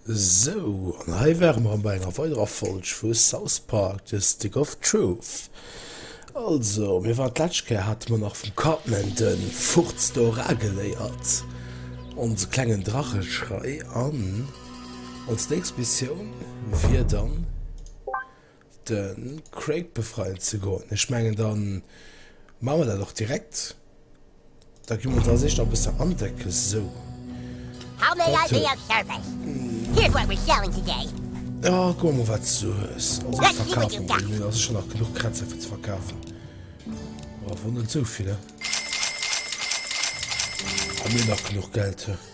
Sou, an hei ware mer bei enger weiderer Folg vu South Park, The Stick of Truth. Also, mir waren d'lescht Kéier hate mer nach vum Cartman de Furz do era geléiert, onse klengen Dracheschrei, an ons nächst Missioun wier dann, de Craig befreien ze goen. Ech mengen, da maache mer dat och direkt. Da gi mer ons eis eréischt nach e bëssen andecken. Sou. How may I be of service? Here's what we're selling today. Jo, kuck emol, wat s du hues. Also, ech verkafen deen. Mir ass scho nach genuch Krätzer fir ze verkafen. Awer net esou vill, hä? Hu mir nach genuch Geld, hä?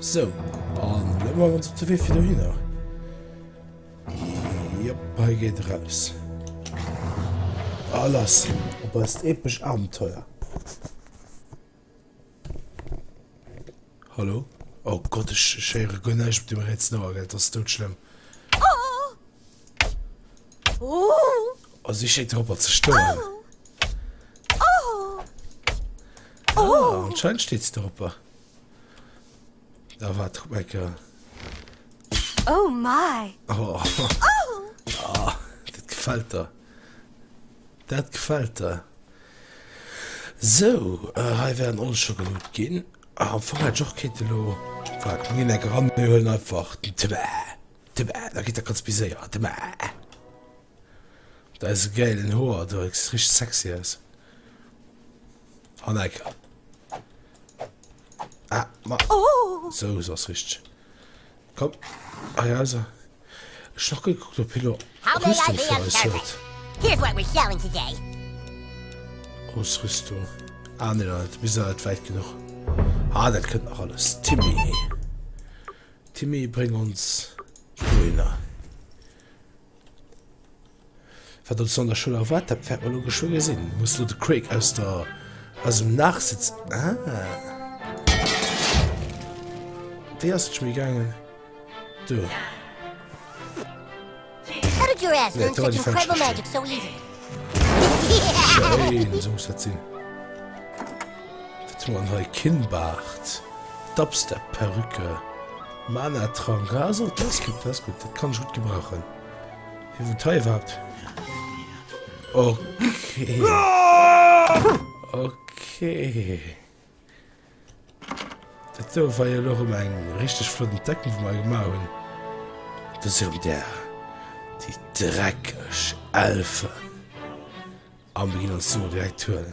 So, an lo man op de Wee fir do hinner. Jop, hei geet e raus. A lass op eist epesch Abenteuer. Hallo? Oh Gott, ech héiere guer näischt mat deem Red Snow, gell? Dat ass doudschlëmm. Oh, si schéngt dorobber ze stoen. Ah, anscheinend steet si dorobber. Da war Troublemaker. Oh my! Oh, dat gefält der. Dat gefällt der. Sou, hei wären all scho geluut ginn. Ah, am Fong hätt ech och kéinte lo, voilà, komm mir ginn eng eran, mir huelen einfach den Tëbäa, Tëbäa, da geet dat ganz méi séier, Tëbäa, mat eise gäilen Hoer do, dat gesäit richteg sexy aus, Hanneke, ah, ma, sou, sou ass richteg. Komm hei rauser. Ech nach gekuckt op hien Rüstung fir eis huet. Grouss Rüstung ah nee dat ass bis net wäit genuch. Ah dat kënnt nach alles Timmy. Timmy bréng ons dohinner. Wat ons no an der Schoul erwaart, dat wäert mer elo geschwë gesinn. Muss elo de Craig aus der, aus dem Nachsëtz, ah. Wéi ass et scho méi gaangen? Do. Nee, dat war déi falsch Richtung. Schéin, esou muss dat sinn. Wat hu mer an hei? Kinnbaart, Dubstep-Perücke, Mana-Trank. Ah, esou, dat ass gutt, dat ass gutt. Dat kann ech gutt gebrauchen. Hie wot hei wat? Okay. Okay. Dat do war jo loch um eng richteg flotten Decken vu mei gemar hunn. Dat se um der déi dreckeg Elfen. Am ginn ons Sue direkt huelen.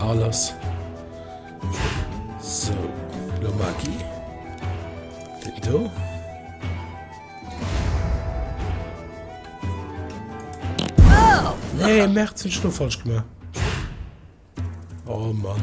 Alles so lo Magi do. Nee, Merzen, ich hab falsch gemacht. Oh Mann.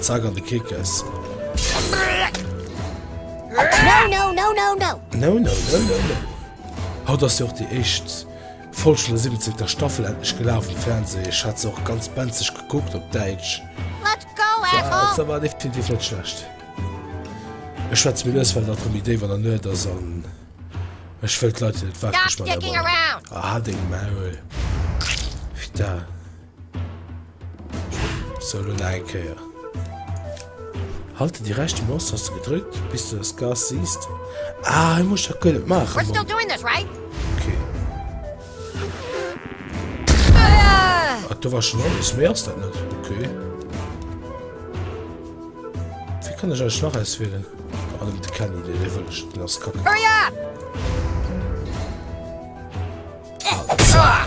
Zack an de Kickes. Haut ass jo och déi éischt Folg vun der 17. Staffel endlech gelaf um Fernseh. Ech hat se och ganz benzeg gekuckt op Däitsch. Se war definitiv net schlecht. Ech schwätze méi lues, well dat elo méi déif an der Nuet ass an ech wëll d'Leit, déi net waarde, gespannt hunn. Hal deng Maul, Fitta. So lo nach eng Kéier. Halte déi rechte Maustaste gedrückt bis du das Gas siehst. Ah, ich muss das gar nicht machen. We're still doing this, right? Okay. Ach, da war schon alles mehr als das nicht. Okay. Wie kann ich euch noch auswählen? Ah, mit der Kenny, der will ich das kacken. Hurry up! Ah,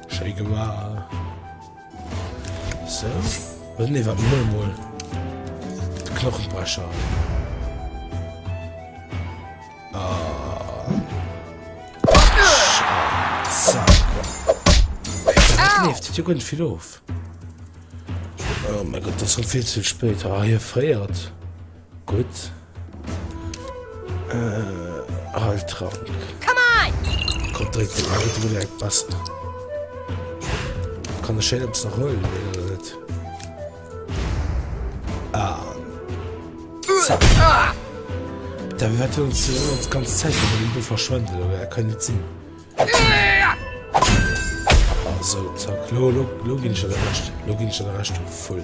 Schéi gemaach. Sou. Oder nee, waarden mol emol. De Knochenbrecher. Kleeft jo gënn vill of. Oh mei Gott, dat ass rem vill ze spéit. Ah, hie fréiert. Gutt, hei trank. Komm dréck deng Ae dru leck bass. Kann ech hien eppes nach huelen oder net? An zack. David wat huelen ze soen ons ganz Zäit fir datt en do verschwënnt oder wéi? Kann net sinn. Sou zack. Lo lo lo ginn ech der de Recht. Lo ginn ech der de Recht vu Vull.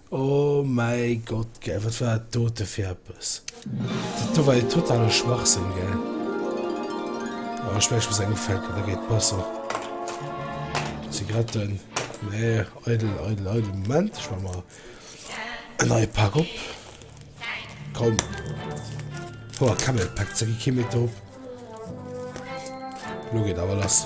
Oh mäi Gott, gell, wat war dat dote fir eppes? Dat do war jo totale Schwachsënn, gell? Oh, ech mengen, ech muss eng ufänken, da geet besser. Zigaretten. Nee, eidel, eidel, eidel. Moment, ech maach mer en neie Pak op. Komm. Ho, Camelback, ze gi kee méi drop. Lo geet awer lass.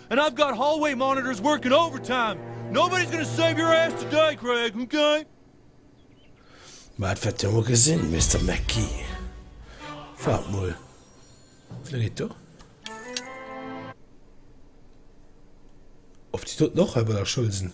And I've got hallway monitors working overtime! Nobody's gonna save your ass today, Craig, okay? Ma dat wäert Dir mol gesinn, Mister McGee. Waart mol, wéi laang geet do? Of déi doten och hei bei der Schoul sinn?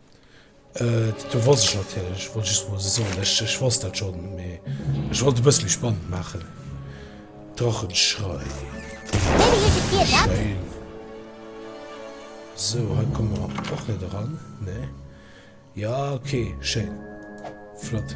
Do wosst ech natierlech, ech wollt just mol se soen, ech ech wosst dat schonn, mee ech wollt e bësse méi spannend maachen. Drachenschrei. Schéin. So, hei komme mer och net eran, ne? Ja, okay, schéin. Flott.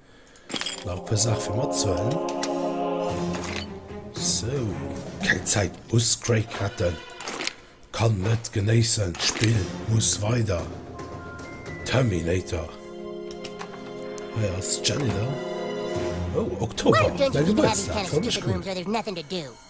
Nach e puer Saache fir matzehuelen. Sou. Keng Zäit, muss Craig retten. Kann net genéissen, d'Spill muss weider. Terminator. Hei ass d'Janitor. Oh, Oktober, mäi Gebuertsdag. Freu mech cool.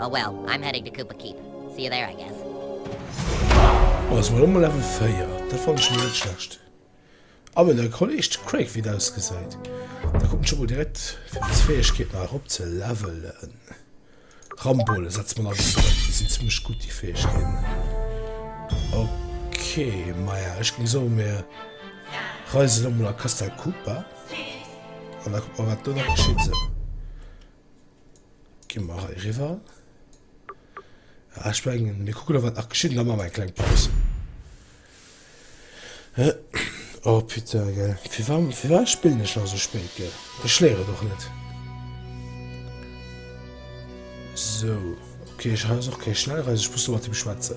Oh well, I'm heading to Kupa Keep. See you there, I guess. Oh, ech sinn elo mol Level 4. Dat fannen ech mol net schlecht. A well der Kolleg, de Craig, wéi et ausgesäit. Da kucken ech emol direkt, fir meng Fäegkeet nach erop ze levelen. Rambolle setze mer nach bis drop. Déi sinn zimmlech gutt, déi Fäegkeeten. Ok, maja, ech géing soen, mir reisen elo mol a Castel Kupa. An da kuck mer wat do nach geschitt. Sou. Gi mer hei riwwer. Ah, ich mein, mir kucken noch wat nach geschitt, da machen wir eng kleng Paus. Äh, oh putain, gell. Fir wa, fir wa spillen ech nach so spéit, gell? Ech léiere doch net. So, okay, ich habe auch keine Schnellreise, ich muss noch mit dem schwätzen.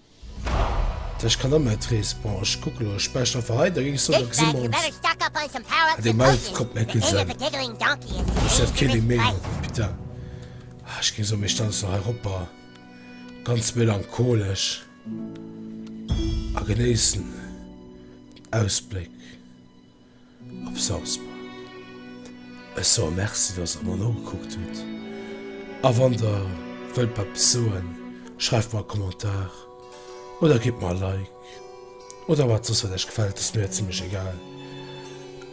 Ech kann ëmmer et rees. Bon ech kucke lo, ech bäscht einfach hei, da ginn ech soen, da gesi mer ons. Ah dee Mouth konnt net gutt sinn. Ech hat keen dee méi huet, putain. Ah ech géing soen, mir stellen ons nach hei eropper, ganz melancholesch, a genéissen den Ausbléck. Op Salzburg. Ech soe Merci, dass Der mer nogekuckt hutt. A wann Der wëllt eppes soen, schreift mer e Kommentar oder gitt mer e Like oder wat soss wat Iech gefält, ass mir zimlech egal.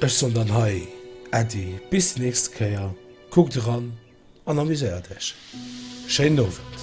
Ech soen dann hei Äddi, bis déi nächst Kéier, kuckt eran an amuséiert Iech. Schéinen Owend.